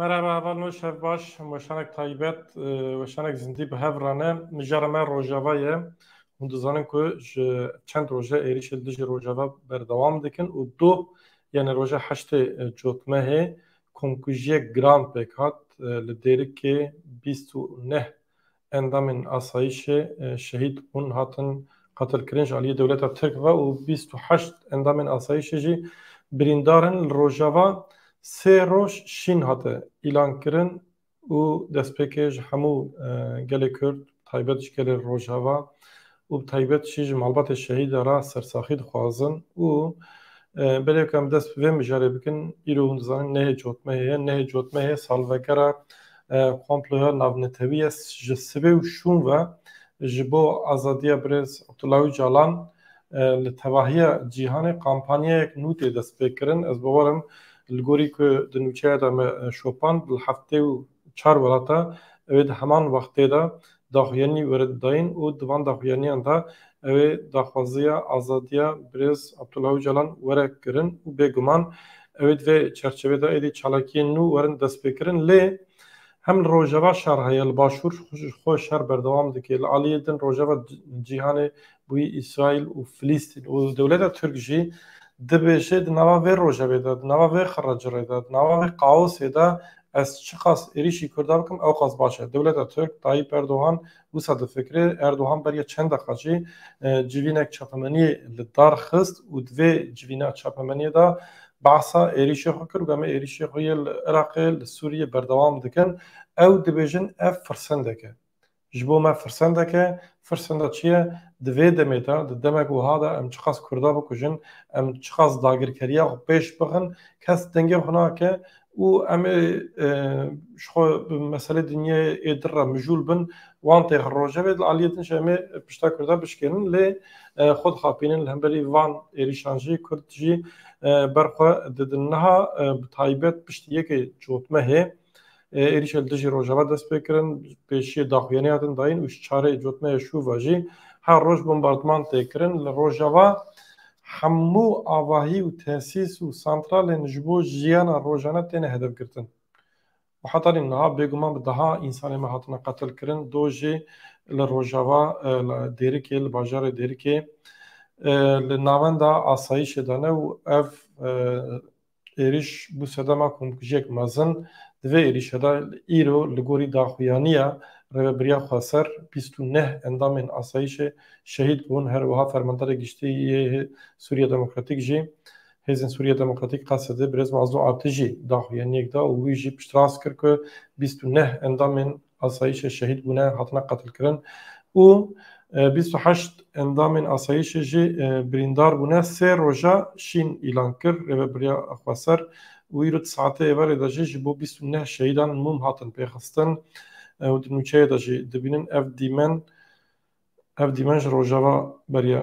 Merhaba heval nû şev baş weşanek taybet weşanek zindî bi hev rane mijara me rojava ye hûn dizanin ku ji çend roje êrîş li dijî rojava berdewam dikin û du yani roja heştê cotmehê komkujiyek giran pêk hat li dêrikê bîst û neh Endamên asayîşê şehîd bûn, hatin qetilkirin ji aliyê dewleta Tirk ve û bîst û heşt endamên asayîşê jî birîndar in. Li Rojava sê roj şîn hate îlankirin û destpêkê ji hemû gelê Kurd bi taybet ji gelê Rojava û bi taybet jî ji malbatê şehîda re sersaxî dixwazin û belê ku em dest bi vê mijarê bikin îro hûn dizanin nehê cotmehê ye nehê cotmehê salvegera komploya navnetewî ye ji sibê û şûn ve ji bo azadiya birêz Abdullah Ocalan li tevahiya cîhanê kampanyayek nû tê destpêkirin ez bawer im li gorî ku di nûçeya de me şopand li heftê û çar welata ew ê di heman wextê de daxuyanî were dayîn û di van daxuyaniyan de ew ê daxwaziya azadiya birêz Abdullah Ocalan were kirin û bêguman ew ê di vê çerçevê de êdî çalakiyên nû werin destpêkirin lê hem li rojava şer heye li başûr xwe şer berdewam dike li aliyê din rojava cîhanê Wî Îsraîl û Filîstîn û dewleta Tirk jî dibêje di nava vê rojevê de, di nava vê xirrecirê de, di nava vê kaosê de ez çiqas êrîşî Kurda bikim ewqas baş e. Dewleta Tirk, Tayyîp Erdogan wisa difikire. Erdogan beriya çend deqa jî civînek çapemeniyê li dar xist û di vê civîna çapemeniyê de behsa êrîşê xwe kir û em ê êrîşê xwe yê li Iraqê, li Sûriyê berdewam dikin. Ew dibêjin ev firsendek e. Ji bo me firsendek e. Firsenda çi ye? Di vê demê de, di demek wiha de em çiqas Kurda bikujin, em çiqas dagirkeriya xwe pêş bixin, kes dengê xwe nake û em ê ji xwe bi meselê dinyayê ê dir re mijûl bin, wan tê xwe rojevê li aliyê din jî em ê pişta Kurda bişkênin. Lê xwe dixapînin li hemberî van êrîşan jî Kurd jî ber xwe didin. Niha bi taybet piştî yekê cotmehê Êrîşa li dijî Rojava dest pê kirin, pêşiyê daxuyanî hatin dayîn û ji çarê cotmeyê şûva jî her roj bombardman tê kirin. Li Rojava hemû avahî û tesîs û santralên ji bo jiyana rojane têne hedefgirtin û heta nîv niha bêguman bi deha însanên me hatine qetilkirin. Doh jî li Rojava li Dêrikê li bajarê Dêrikê li navenda asayîşê de ne û ev êrîş bû sedema komkujiyek mezin, divê êrîşe de îro li gorî daxuyaniya Rêveberiya Xweser bîst û neh endamên asayîşê şehîd bûn, her wiha Fermandarê Giştî yê Sûriya Demokratîk jî Hêzên Sûriya Demokratîk Qesedê Birêz Mazlû Atijî daxuyaniyek da û wî jî piştrast kir ku bîst û neh endamên asayîşê şehîd bûne hatine qetilkirin û bîst û heşt endamên asayîşê jî birîndar bûne. Sê roja şîn îlan kir Rêveberiya Xweser û îro di saetê êvarê de jî ji bo bîst û neh şehîdan mûm hatin pêxistin û di nûçeyê de jî dibînin ev dîmen ev dîmen ji rojava beriya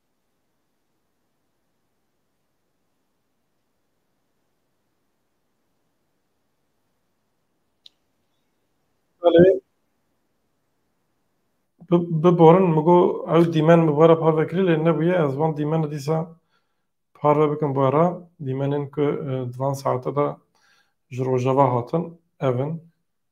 Biborin min got ew dîmen min we re parve kirî lê nebûye ez van dîmena dîsa parve bikim we re. Dîmenên ku di van saete de ji rojava hatin ev in.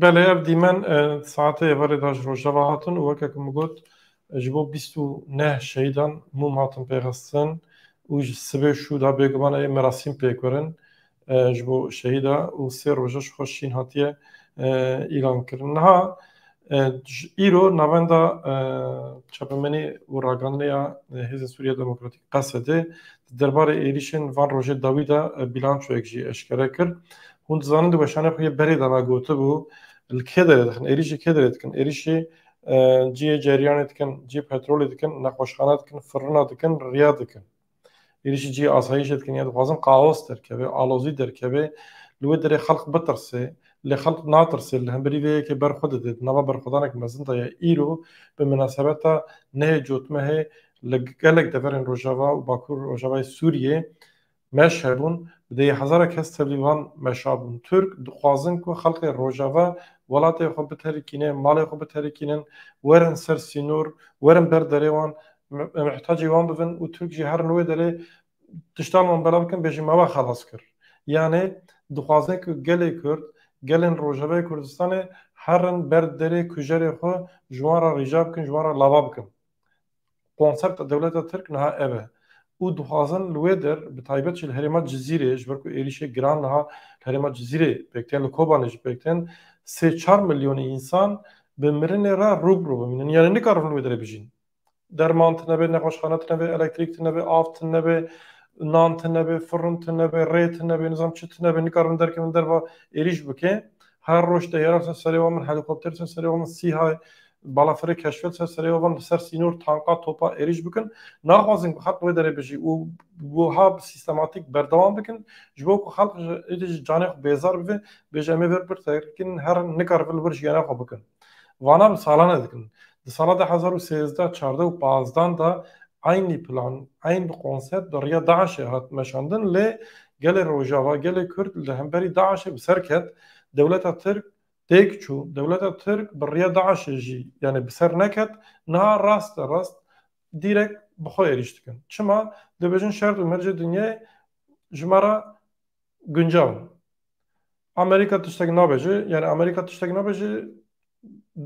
Belê ev dîmen saetê êvarê da ji rojava hatin û weke ku min got ji bo bîst û neh şehîdan mûm hatin pêxistin û ji sibê şû da bêguman ê merasîm pêk werin ji bo şehîda û sê roja ji xwe şîn hatiye îlan kirin. Niha îro navenda çapemenê û ragihandinê ya Hêzên Sûriya Demokratîk Qesede di derbarê êrîşên van rojê dawî de bîlançoyek jî eşkere kir. Hûn dizanin di weşanê xwe yê berê de na gotibû li kê derê dixin, êrîşê kê derê dikin, êrîşê cihê ceryanê dikin, cihê petrolê dikin, nexweşxana dikin, firina dikin, riya dikin. Êrîşê cihê asayîşê dikin ya dixwazin kaos derkeve, alozî derkeve, li wê derê xelq bitirse, lê xelq natirse, li hemberî vê yekê berxwe dide, di nava berxwedanek mezin de ye. Îro bi minasebeta nehê cotmehê li gelek deverên rojava û bakur rojavayê Sûriyê meş hebûn, bi dêyî hezara kes tevlî wan meşa bûn. Tirk dixwazin ku xelkê rojava welatê xwe biterikîne, malê xwe biterikînin, werin ser sînor, werin ber derê wan, mihtacê wan bibin û Tirk jî herin li wê derê tiştan wan belav bikin bêjin me we xelas kir. Yanê dixwaze ku gelê Kurd, gelên rojavayê Kurdistanê herin ber derê kujerê xwe ji wan re rîca bikin, ji wan re lava bikin. Konserta dewleta Tirk niha ev e û dixwazin li wê der bi taybet jî li herêma Cizîrê ji ber ku êrîşê giran niha li herêma Cizîrê pêk tên li Kobanê jî pêk tên sê çar milyonê însan bi mirinê re rû bi rû bimînin yanî nikarin li wê derê bijîn. Derman tinebe, nexweşxane tinebe, elektrîk tinebe, av tinebe, nan tinebe, firin tinebe, rê tinebe, nizam çi tinebe nikarin derkevin derva êrîş bike Her roj teyaran ser serê wan bin, helîkopter ser serê wan bin, sîhay, balafirê keşfet ser serê wan bin, li ser sînor tanka, topa êrîş bikin. Naxwazin ku xelk li wê derê bijî û wiha bi sîstematîk berdewam bikin. Ji bo ku xelk êdî ji canê xwe bêzar bibe, bêje em ê vir pir te kirin, herin nikar vir li wir jiyana xwe bikin. Vana bi salan e dikin. Di sala du hezar û sêzdeh, çardeh û pazdeh de eynî plan, eyn bi konsept di riya DAIŞ'ê hat meşandin lê Gelê Rojava, gelê Kurd li hemberî DAIŞ'ê bi ser ket, dewleta Tirk têk çû, dewleta Tirk bi riya DAIŞ'ê jî yanê bi ser neket, niha raste rast dîrek bi xwe êrîş dikin. Çima? Dibêjin şert û mercê dinyayê ji me re guncaw in. Amerîka tiştek nabêje yani Amerîka tiştek nabêje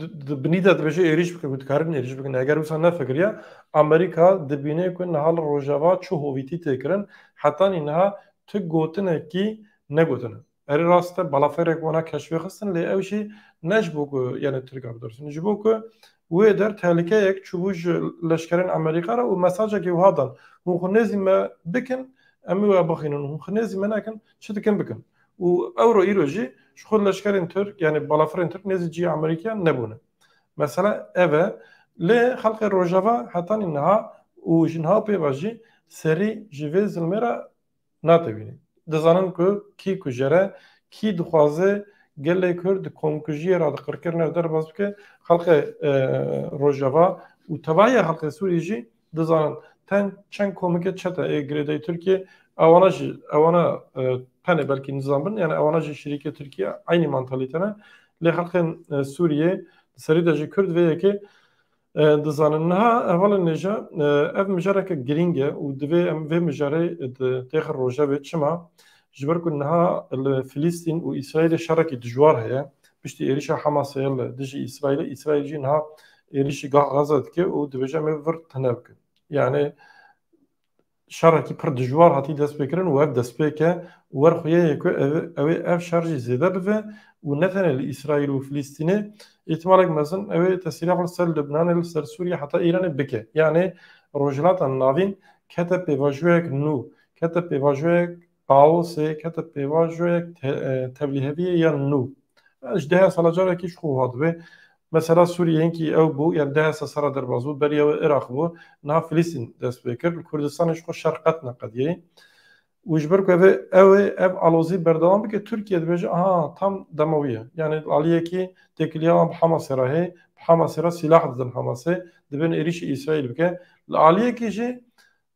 di binî de dibêje êrîş bike ku dikarin êrîş bikin eger wisa nefikiriya Amerîka dibîne ku niha li rojava çi hovîtî tê kirin hetanî niha tu gotinekî negotine. Erê rast e balaferek wana keşfê xistin lê ew jî ne ji bo ku yani Tirka bidirsin ji bo ku wê der tehlîkeyek çûbû ji leşkerên Amerîka re û mesajekî wiha dan hûn xwe nêzî me bikin em ê we bixînin hûn xwe nêzî me nekin çi dikin bikin. Û ewro îro jî ji xwe leşkerên Tirk yanî balafirên Tirk nêzî cihê Amerîkiyan nebûne. Mesela ev e. Lê xelkê Rojava hetanî niha û ji niha û pêva jî serî ji vê zilmê re natewîne. Dizanin ku kî kujere, kî dixwaze gelê Kurd di komkujiyê re di qirkirinê re derbas bike. Xelkê Rojava û tevahiya xelkê Sûriyê jî Dizanin ten çend komikê çete ê girêdayî Tirkiyê ewana jî ewana tenê belkî nizam bin yani ewana jî şirîkê Tirkiye eynî mantalîte ne lê xelkên Sûriyê serî de jî Kurd vê yekê dizanin niha hevalên nêje ev mijareke girîng e û divê em vê mijarê têxir rojevê çima ji ber ku niha li Filîstîn û Îsraîlê şerekî dijwar heye Piştî êrîşa Hamasê li dijî Îsraîlê, Îsraîl jî niha êrîşî gah Gaza dike û dibêje em ê vir tune bikin. Yanî şerekî pir dijwar hatî destpêkirin û ev destpêk e û wer xwe ye ku ew ê ev şer jî zêde bibe û ne tenê li Îsraîl û Filîstînê îhtimalek mezin ew ê tesîrek li ser Libnanê li ser Sûriyê heta Îranê bike. Yanî Rojhilata Navîn kete pêvajoyek nû, kete pêvajoyek Kaosê kete pêvaş joyek tevlîheviyê yan nû. Ji dehe sala carekî ji xwe wiha dibe. Mesela Sûriyê hinkî ew bû, yan dehe sal serra derbas bû, beriya wê Iraq bû, niha Filistîn dest pê kir. Li Kurdistanê ji xwe şer qet neqediyê. Û ji ber ku ev ew ê ev alozî berdewam bike, Tirkiye dibêje aha tam dema wî ye. Yanî li aliyekî têkiliya wan bi Hamasê re heye, bi Hamasê re sîlah didin Hamasê, dibin êrîşî Îsraîl bike. Li aliyekî jî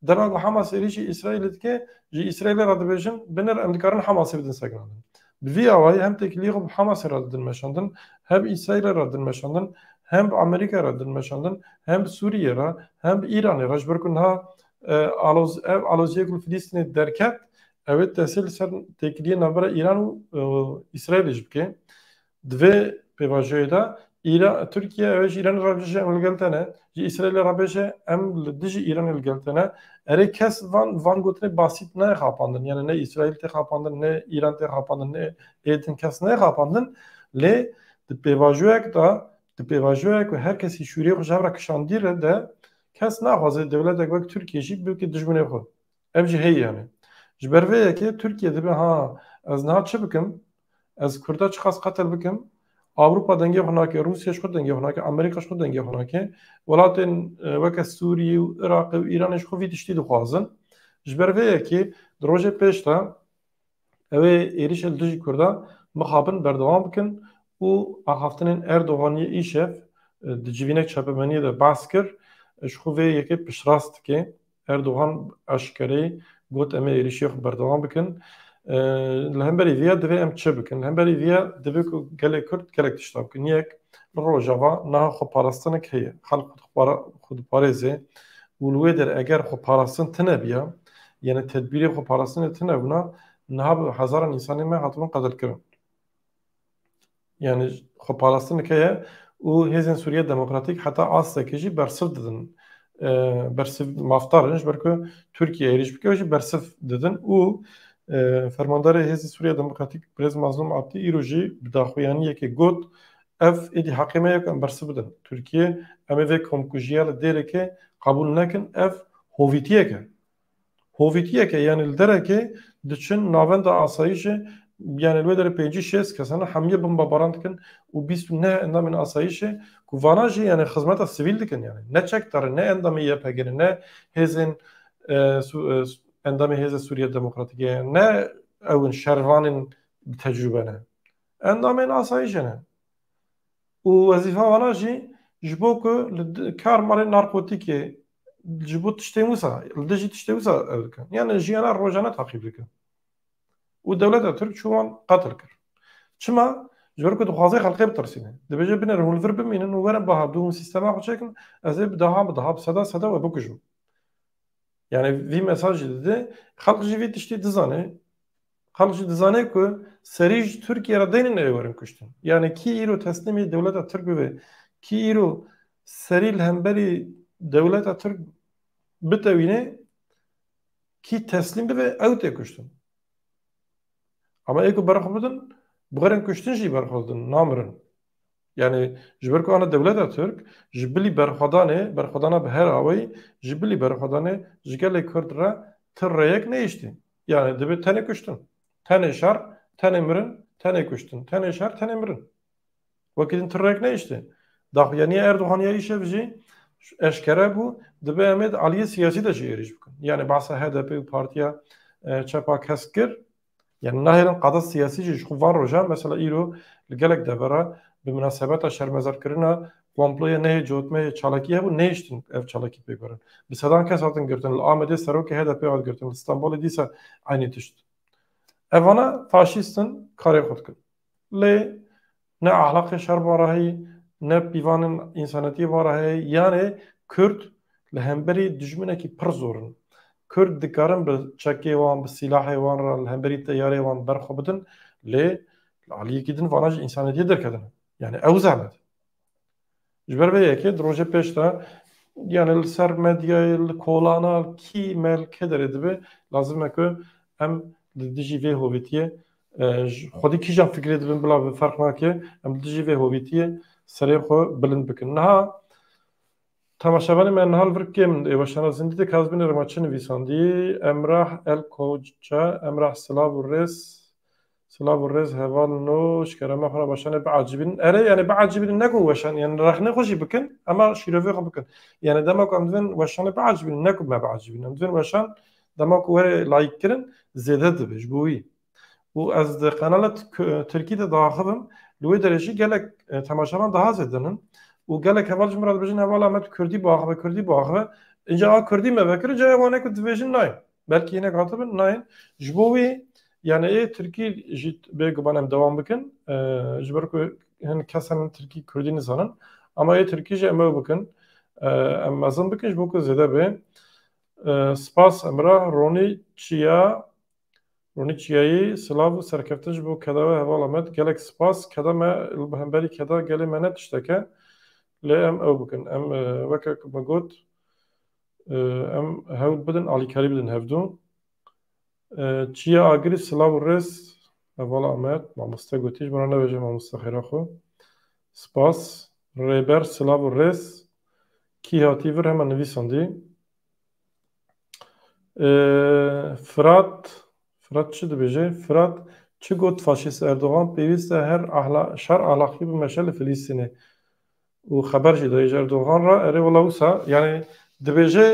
Dema ku Hamas êrîşî Îsraîlê dike, ji Îsraîlê re dibêjin binir em dikarin Hamasê bidin sekinandin. Bi vî awayî hem têkiliyê xwe bi Hamasê re didin meşandin, hem bi Îsraîlê re didin meşandin, hem bi Amerîkayê re didin meşandin, hem bi Sûriyê re, hem bi Îranê re ji ber ku niha aloz ev aloziyê ku li Filîstînê derket ew ê tesîr li ser têkiliyê navbera Îran û Îsraîlê jî bike. Di vê pêvajoyê de Îra Tirkiye ew ê ji Îranê re bêje em li gel te ne, ji Îsraîlê re bêje em li dijî Îranê li gel te ne. Erê kes van van gotinê basît nayê xapandin. Yanê ne Îsraîl tê xapandin, ne Îran tê xapandin, ne ê din kes nayê xapandin. Lê di pêvajoyek de di pêvajoyek ku her kesî şûriyê xwe ji hev re kişandî re de kes naxwaze dewletek wek Tirkiye jî bike dijminê xwe. Ev jî heyî hene. Ji ber vê yekê Tirkiye dibe ha ez niha çi bikim, ez Kurda çiqas qetil bikim, Ewropa dengê xwe nake, Rûsya ji xwe dengê xwe nake, Amerîka ji xwe dengê xwe nake, welatên weke Sûriyê û Iraqê û Îranê ji xwe vî tiştî dixwazin. Ji ber vê yekê di rojê pêş de Ew ê êrişên dijî Kurdan mixabin berdewam bikin û axaftinên Erdoganî îşev di civînek çapemeniyê de behs kir, ji xwe vê yekê piştrast dike. Erdogan eşkereyê got em ê êrişiyê xwe berdewam bikin. Li hemberî vê ya divê em çi bikin? Li hemberî vê ya divê ku gelê Kurd gelek tişta bikin. Yek, li Rojava niha xweparastinek heye. Xelk xwe diparêze û li wê der eger xweparastin tune biya, Yani tedbîrê xwe parastinê tune bûna niha bi hezaran însanê me hatibûn qetilkirin. Yani xwe parastin dike ye û hêzên Sûriye Demokratîk heta astekê jî bersiv didin. Bersiv mafdar in ji ber ku Tirkiye êrîş bike û jî bersiv didin û Fermandarê Hêzê Sûriye Demokratîk Birêz Mazlûm Abdî îro jî bi daxuyaniyekê got Ev êdî heqê me ye ku em bersiv bidin Tirkiyeyê. Em ê vê komkujiya li Dêrêkê qebûl nekin. Ev hovîtiyek e. Hovîtiyek e yanî li derekê diçin navenda asayîşê yanî li wê derê pêncî şêst kes hene hemûyê bombabaran dikin û bîst û neh endamên asayîşê ku vanan jî yanî xizmeta sivîl dikin yanî ne çekdar in ne endamê YPG'n in ne hêzên endamê Hêza Sûriya Demokratîk e ne ew in şervanên bi tecrûbe ne. Endamên asayîşê ne. Û wezîfa wana jî ji bo ku li kar malê narkotîkê ji bo tiştên wisa li dijî tiştê wisa ev dikin. Yani jiyana rojane taqîb dikin. Û dewleta Tirk çû wan qetil kir. Çima? Ji ber ku dixwaze xelkê bitirsîne. Dibêje biner hûn li vir bimînin û werin biha bi hûn sîstema xwe çekin ez ê bi dehan bi dehan bi sedan sedan we bikujim. Yani vî mesajî dide xelk jî vî tiştî dizane. Xelk jî dizane ku serî ji Tirkiyê re deynên erê werin kuştin. Yanî kî îro teslîmê dewleta Tirk bibe, kî îro serî li hemberî dewleta Tirk bitewîne, kî teslîm bibe ew tê kuştin. Ama ê ku bera xwe bidin, bi xêrên kuştin jî bera xwe didin, namirin. Yanî ji ber ku ana dewleta Tirk ji bilî berxwedanê, berxwedana bi her awayî, ji bilî berxwedanê ji gelê Kurd re ti rêyek nehiştî. Yani dibe tenê kuştin. Tenê şer, tenê mirin, tenê kuştin. Tenê şer, tenê mirin. Wekî din tirrek neyiştê. Daxuyaniya Erdogan ya îşev jî eşkere bû dibe em ê di aliyê siyasî de jî êrîş bikin. Yani behsa HDP û partiya çepa kesk kir. Yani nahêlin qada siyasî jî ji xwe van rojan mesela îro li gelek devera bi minasebeta şermezarkirina Komployê neyê cotmeyê çalakî hebû nehiştin ev çalakî pêk werin. Bi sedan kes hatin girtin. Li Amedê serokê HDP'ê hat girtin. Li Stenbolê dîsa eynî tişt. Ev vana faşîst in karê xwe dikin. Lê ne ahlaqê şer van re heye, ne pîvanên însanetiyê van re heye. Yanê Kurd li hemberî dijminekî pir zor in. Kurd dikarin bi çekê wan, bi sîlahê wan re li hemberî teyareyê wan ber xwe bidin. Lê li aliyekî din vana ji însanetiyê derketin. Yani ew zehmet. Ji ber vê yekê di rojê pêş de yani li ser medyayê li kolana kî me li kê derê dibe lazim e ku em li dijî vê hovîtiyê xwedî kîjan fikirê dibin bila bi ferq nake em li dijî vê hovîtiyê serê xwe bilind bikin. Niha temaşevanê me niha li vir kêm ê weşana zindî de Kazbînê Remaçi nivîsandî Emrah El Koca, Emrah Silav û Rêz Silav û rêz heval û nûç kerema xwe re weşan e biacîbînin. Erê yanê biacîbînin ne ku weşan yanê rexne xwe jî bikin ema şîrovê xwe bikin. Yanê dema ku em divên weşanê biacîbînin ne ku me biacîbînin. Em divên weşan dema ku werê like kirin zêde dibe ji bo wî. Û ez di qenala tirkî de diaxivim li wê derê jî gelek temaşevan daha zêde nin û gelek heval ji min re dibêjin hevala me tu kurdî biaxive kurdî biaxive. Înca a kurdî me vekir ca ê wan ê ku dibêjin nayê. Belkî hinek hatibin nayên. Ji bo wê yanî ê tirkî jî bê guman em dewam bikin ji ber ku hin kesan hin tirkî kurdî nizanin ama ê tirkî jî em ew bikin em mezin bikin ji bo ku zêde bê. Spas Emrah Ronî Çiya Ronî Çiyayî silav û serkeftin ji bo keda we hevala me gelek spas keda me li hemberî keda gelê me ne tişteke lê em ew bikin em weke ku me got Em hewl bidin alîkarî bidin hev du. Çiya Agirî silav û rêz. Hevala Amed, mamoste gotî ji min re nebêje mamoste xêra xwe. Spas. Rêber silav û rêz. Kî hatî vir hema nivîsandî. Firat, Firat çi dibêje? Firat çi got faşîst Erdogan pêwîst e her şer ahlaqî bimeşe li Filîstînê. Û xeber jî dayê ji Erdogan re, erê wela wisa yanî dibêje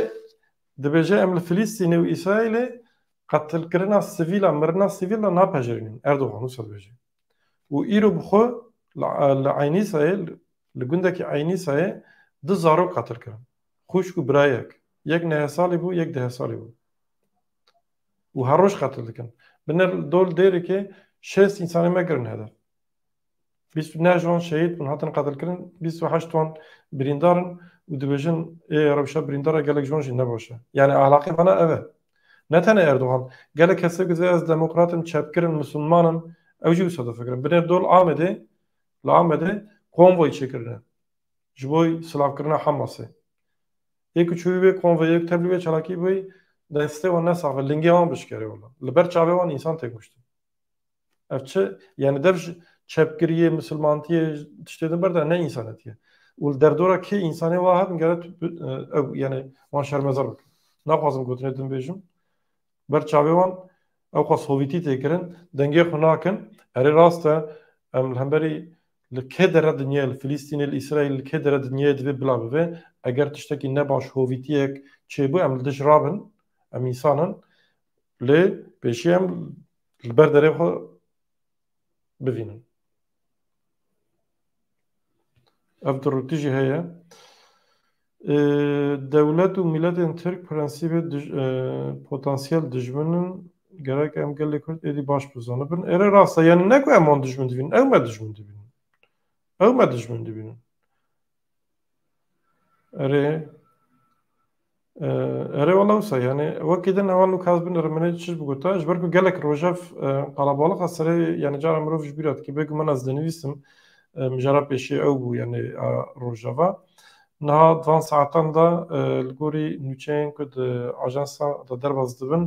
dibêje em li Filîstînê û Îsraîlê qetilkirina sivîlan, mirina sivîl de napejirînin. Erdogan wisa dibêje. Û îro bi xwe li Eynîsayê li gundekî Eynîsayê du zarok qatil kirin. Xwişk û birayek. Yek neh salî bû, yek deh salî bû. Û her roj qetil dikin. Binir dol dêrikê şêst însanê me kirin hedef. Bîst û neh wan şehîd bûn, hatin qetilkirin, bîst û heşt wan birîndar in û dibêjin ê rewşa birîndara gelek ji wan jî ne baş e. Yanî ahlaqê vana ev e. Ne tenê Erdogan, gelek kesê ku dibê ez demokrat im, çepgir im, misilman im, ew jî wisa difikirin. Binê dol Amedê, li Amedê konvoy çêkirine ji bo silavkirina Hamasê. Ê ku çûbî wê konvoyê, ê ku tevlî wê çalakî bûbî, destê wan ne saf e, lingê wan bişkerê wila. Li ber çavê wan însan tê kuştin. Ev çi yani dev ji çepkiriyê, misilmantiyê tiştê din berda ne însanetiyê. Û li derdora kê însanê wa hatin gere ew yani wan şermezar bikin. Naxwazim gotinê din bêjim. Ber çavê wan ew xwe sovîtî tê kirin, dengê xwe nakin. Erê rast e em li hemberî li kê dere dinyayê li Filîstînê, li Îsraîl li kê dere dinyayê divê bila bibe. Eger tiştekî ne baş hovîtiyek çêbû em li dij rabin. Em însan in. Lê pêşî em li ber derê xwe bivînin. Ev dirûtî jî heye. Dewlet û mîletên Tirk prensîbê potansiyel dijmin in gerek em gelê Kurd êdî baş bizanibin. Êre rast e yanî ne ku em wan dijmin dibînin, ew me dijmin dibînin. Ew me dijmin dibînin. Erê Erê wala wisa yanî wekî din hewa lûk hez bin ermenê çiş bigota ji ber ku gelek rojev qalabalîxa serê yanî cara mirov ji bîra dikê bê guman ez dinivîsim mijara pêşê ew bû yanî a rojeva niha di van saetan de li gorî nûçeyên ku di ajansa de derbas dibin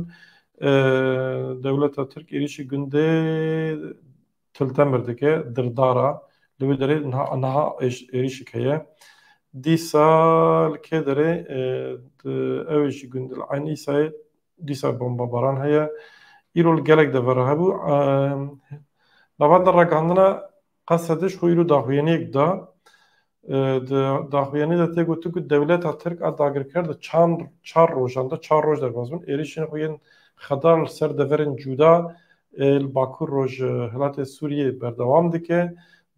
dewleta tirk êrîşî gundê til temir dike, dirdara, li wê derê niha êrîşik heye. Dîsa li kê derê ew jî gund li Eyn Îsayê dîsa bombabaran heye. Îro li gelek dever re hebû. Navenda ragihandina qesediş xwe îro daxuyaniyek da. Di daxuyanî de tê gotin ku dewleta Tirk a dagirker di çand çar rojan de çar roj derbas bûn êrîşên xwe yên xedar li ser deverên cûda ê li bakur roj hilatê Sûriyê berdewam dike.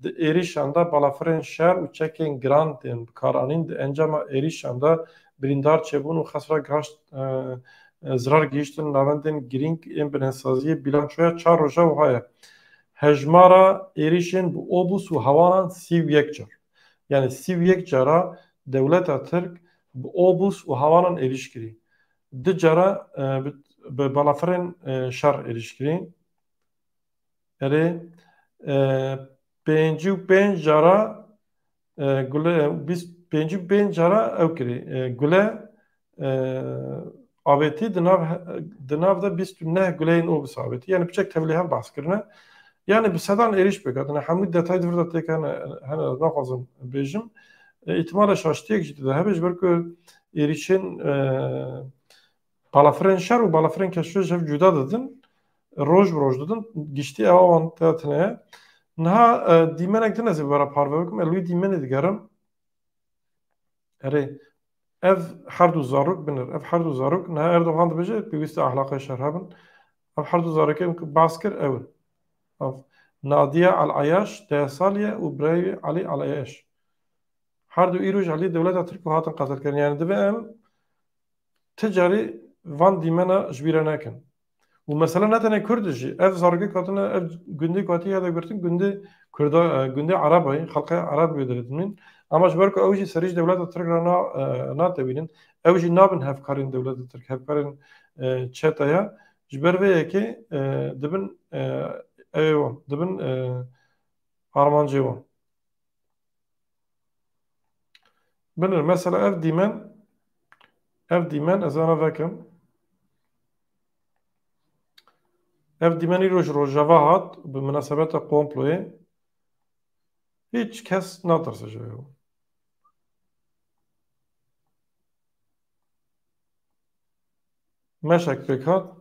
Di êrîşan de balafirên şer û çekên giran tên bikaranîn. Di encama êrîşan de birîndar çêbûn û xesra gihaşt zirar gihîştin navendên girîng ên binhesaziyê. Bîlançoya çar roja wiha ye. Hejmara êrîşên bi obûs û hewaran sî û yek car. Yanî sî û yek cara dewleta Tirk bi obûs û hewaran êrîş kirî. Du cara bi balafirên şer êrîş kirî. Erê pêncî û pênc cara Gule bîst pêncî û pênc cara ew kirî. Gule avêtî di nav di nav de bîst û neh guleyên obis avêtî. Yanî piçek tevlîhev bahs kirine. Yanî bi sedan êrîş pêk hatine. Hemû detay di vir de têk hene hene ez naxwazim bêjim. Îhtimale şaştiyek jî di de hebe ji ber ku êrîşên Balafirên şer û balafirên keşûyê ji hev cuda didin, roj bi roj didin, giştî ewa wan te tune ye. Niha e, dîmenek din ez ê were parve bikim, ez wî dîmenê digerim. Erê, ev her du zarok binir. Ev her du zarok, niha Erdogan dibêje pêwîste ahlaqê şer hebin. Ev her du zarokê min ku behs kir ew in. Ev Nadiya El Ayaş deh salî ye û birayê wî Elî El Ayaş. Her du îroj aliyê dewleta Tirk û hatin qetilkirin. Yani divê em ti carî van dîmena ji bîr re nekin. Û mesela ne tenê Kurd jî ev zarokek hatine ev gundê ku hatiye hede girtin gundê Kurda gundê Erabayê xelqê Erab bê diridimîn ama ji ber ku ew jî serî ji dewleta Tirk re na natewînin ew jî nabin hevkarên dewleta Tirk hevkarên çete ye ji ber vê yekê dibin ew dibin armancê wan. Binir mesela ev dîmen ev dîmen ez ana vekim. Ev dîmen îro ji rojava hat bi minasebeta komployê hiç kes natirse ji wê. Meşek pêk hat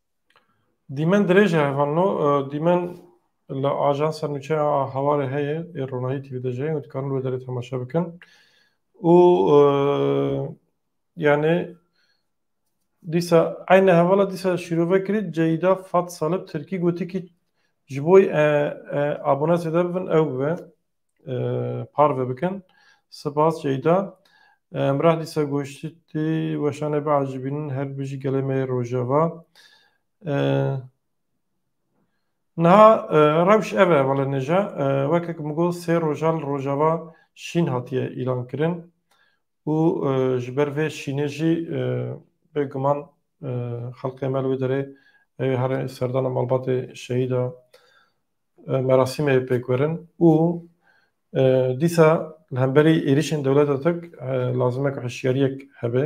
Dîmen dirêj e hevalno, dîmen li ajansa nûçeya Hawarê heye ê Ronahî TV de jî heye û dikarin li wê derê temaşe bikin û yanê dîsa eyne hevala dîsa şîrove kirî Ceyda Fat Salib Tirkî gotî kî ji bo abonatê de bibin ew bibe. parve bikin. Sipas Ceyda. Emrah dîsa goştî weşane biacîbînin her bijî gelê me yê rojava. Niha rewş ev e wele nêja weke min got sê roja li rojava şîn hatiye îlankirin û ji ber vê şînê jî bêguman xelkê me li wê derê ew ê here serdana malbatê şehîda merasîmê pêkwerin û dîsa li hemberî êrîşên dewleta tirk lazim e ku hişyariyek hebe.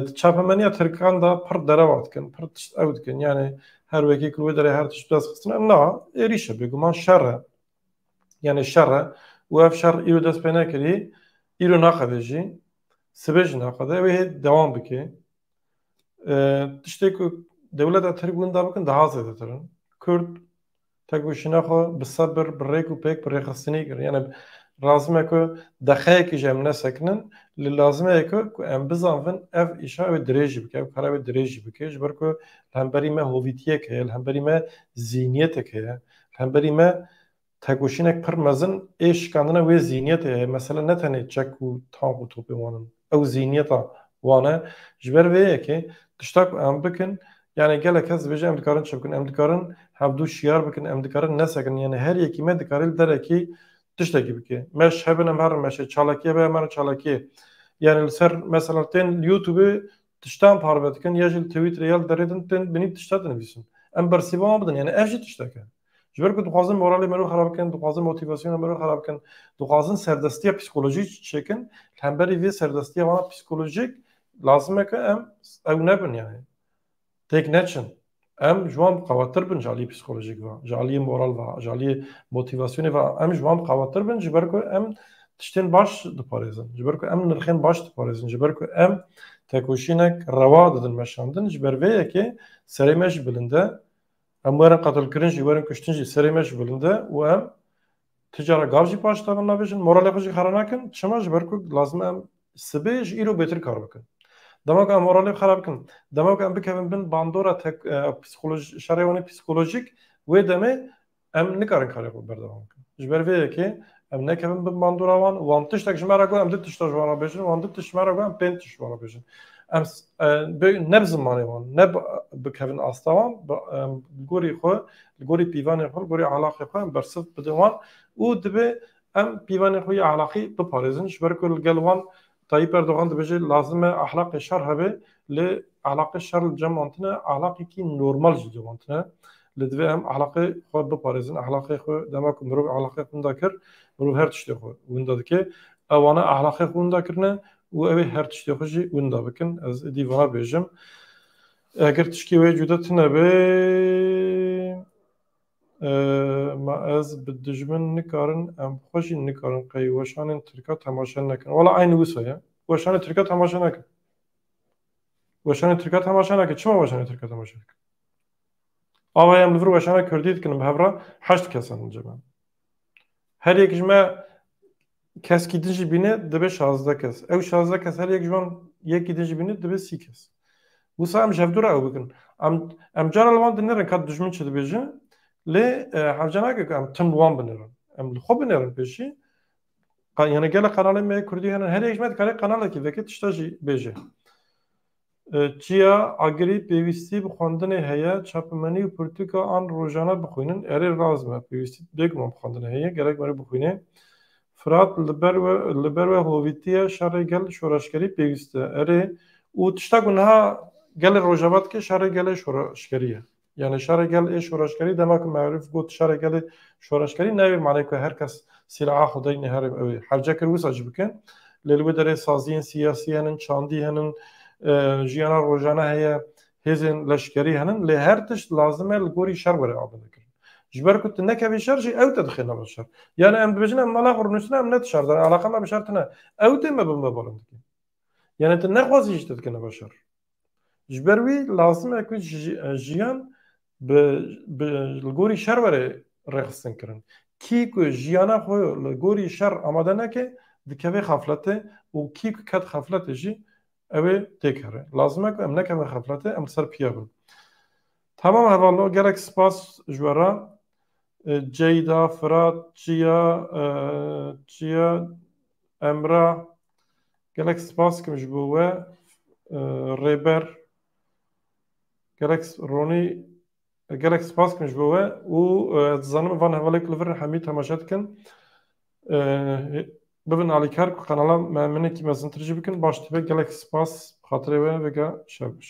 Di çapemeniya tirkan de pir derewa dikin, pir tişt ew dikin yanê her wekî ku li wê derê her tişt bi dest xistine na êrîş e bêguman şer e. Yanê şer e û ev şer îro dest pê nekirî, îro naqede jî, sibê jî naqede wê hê dewam bike. Tiştê ku dewleta Tirk winda bikin daha zêdetir in. Kurd tevgoşîna xwe bi sebir, bi rêk û pêk, bi rêxistinî kir. Yanê lazim e ku deqeyekê jî em nesekinin. Li lazim e ku ku em bizanvin ev îşa wê dirêj jî bike, ev kara wê dirêj jî bike ji ber ku li hemberî me hovîtiyek heye, li hemberî me zîhnîyetek heye, li hemberî me Têkoşînek pir mezin ê şikandina wê zîniyetê heye. Mesele ne tenê çek û tank û topê wan in. Ew zîniyeta wan e. Ji ber vê yekê tişta ku em bikin yanê gelek kes dibêje em dikarin çi bikin. Em dikarin hevdu şiyar bikin, em dikarin nesekin. Yanê her yekî me dikarê li derekê tiştekî bike. Meş hebin em herin meşê, çalakî hebe em herin çalakîyê. Yanê li ser mesela tên li youtubê tiştan parve dikin ya jî li twîterê ya li derê din tên binî tişta dinivîsin. Em bersîva wan bidin yanê ev jî tiştek e. Ji ber ku dixwazin moralê me rû xerab bikin, dixwazin motîvasyona me rû xerab bikin, dixwazin serdestiya psîkolojîk çêkin, li hemberî vê serdestiya wan psîkolojîk lazim e ku em ew nebin yanî têk neçin. Em ji wan bi qawettir bin ji aliyê psîkolojîk ve, ji aliyê moral ve, ji aliyê motîvasyonê ve em ji wan bi qawettir bin ji ber ku em tiştên baş diparêzin, ji ber ku em nirxên baş diparêzin, ji ber ku em tekoşînek rewa didin meşandin, ji ber vê yekê serê me jî bilind e Em werin qetilkirin jî, werin kuştin jî serê me ji bilind e û em ti cara gav jî paş da min nabêjin, moralê xwe jî xera nakin. Çima? Ji ber ku lazim e em sibê ji îro bêtir kar bikin. Dema ku em moralê xera bikin, dema ku em bikevin bin bandora şerê wan ê psîkolojîk, wê demê em nikarin karê xwe berdewam bikin. Ji ber vê yekê Em nekevin bi mandora wan, wan tiştek ji me re got em du tişta ji wan re bêjin, wan du tiş ji me re got em pênc tiş ji wan re bêjin. Em ne bi zimanê wan, ne bikevin asta wan, li gorî xwe, li gorî pîvanê xwe, li gorî elaqê xwe em bersiv bidin wan û divê em pîvanê xwe ya elaqî biparêzin ji ber ku li gel wan Tayyîp Erdogan dibêje lazim e ahlaqê şer hebe lê ahlaqê şer li ceman tune ahlaqekî normal ji ceman tune. Lê divê em ahlaqê xwe biparêzin. Ahlaqê xwe dema ku mirov ahlaqê xwe winda kir, mirov her tiştê xwe winda dike. Ew ane ahlaqê xwe winda kirine û ew ê her tiştê xwe jî winda bikin. Ez êdî vana bêjim. Eger tişkê wê cuda tune be. Ma ez bi dijmin nikarin em xwe jî nikarin qey weşanên tirka temaşe nekin. Wala eyn wisa ye. Weşanê tirka temaşe nekin. Weşanê tirka temaşe nekin. Çima weşanê tirka temaşe dikin? Ava em li vir weşana kurdî dikin bi hevra heşt kes in cem. Her yek ji me Keskî din jî bîne dibe şazdeh kes. Ew şazdeh kes her yek ji wan yekî din jî bîne dibe sî kes. Wisa em ji hevdu re ew bikin. Em em cara li wan dinerin ka dijmin çi dibêje lê hevce nake ku em tim li wan binerin. Em li xwe binerin pêşî yani gelek qenalên me yê kurdî hene her yek ji me dikare qenalekî veke tişta jî bêje. Çiya agirî pêwîstî bi xwendinê heye, çapimenî û pirtûka an rojane bixwînin. Erê rast me, pêwîstî bêguman bi xwendinê heye, gerek merê bixwînê. Firat li ber we li ber we hovîtiye, şerê gel şoreşgerî pêwîst e. Erê û tişta ku niha gelê Rojava dike şerê gelê şoreşgerî ye. Yani şerê gel ê şoreşgerî dema ku Me'rûf got şerê gelê şoreşgerî nayê manê ku her kes sîlaha xwe daynê herê ew ê hevce kir wisa jî bikin. Lê li wê derê saziyên siyasî henin, çandî henin, jiyana rojane heye, hêzên leşkerî henin lê her tişt lazim e li gorî şer were amadekirin. Ji ber ku tu nekevî şer jî ew te dixêne ber şer. Yani em dibêjin em mala xwe rûnûsine em ne di şer de ne eleqa me bi şer tune. Ew tê me bi me balindikî. Yani tu nexwazî jî te dikêne ber şer. Ji ber wî lazim e ku jiyan li gorî şer were rêxistin kirin. Kî ku jiyana xwe li gorî şer amade neke dikeve xefletê û kî ku ket xefletê jî ew ê têkeve. Lazim e ku em nekevin xefletê, em li ser piya bin. Tamam hevalo gelek spas ji we re. Ceyda, Firat, Çiya, Çiya, Emra, Gelek spas dikim ji bo we rêber gelek Ronî gelek spas dikim ji bo we û dizanim van hevalek li vir hemî temaşe dikin bibin alîkar ku qenala me minekî mezintir jî bikin baş dibe gelek spas bi xatirê we vêga şev biş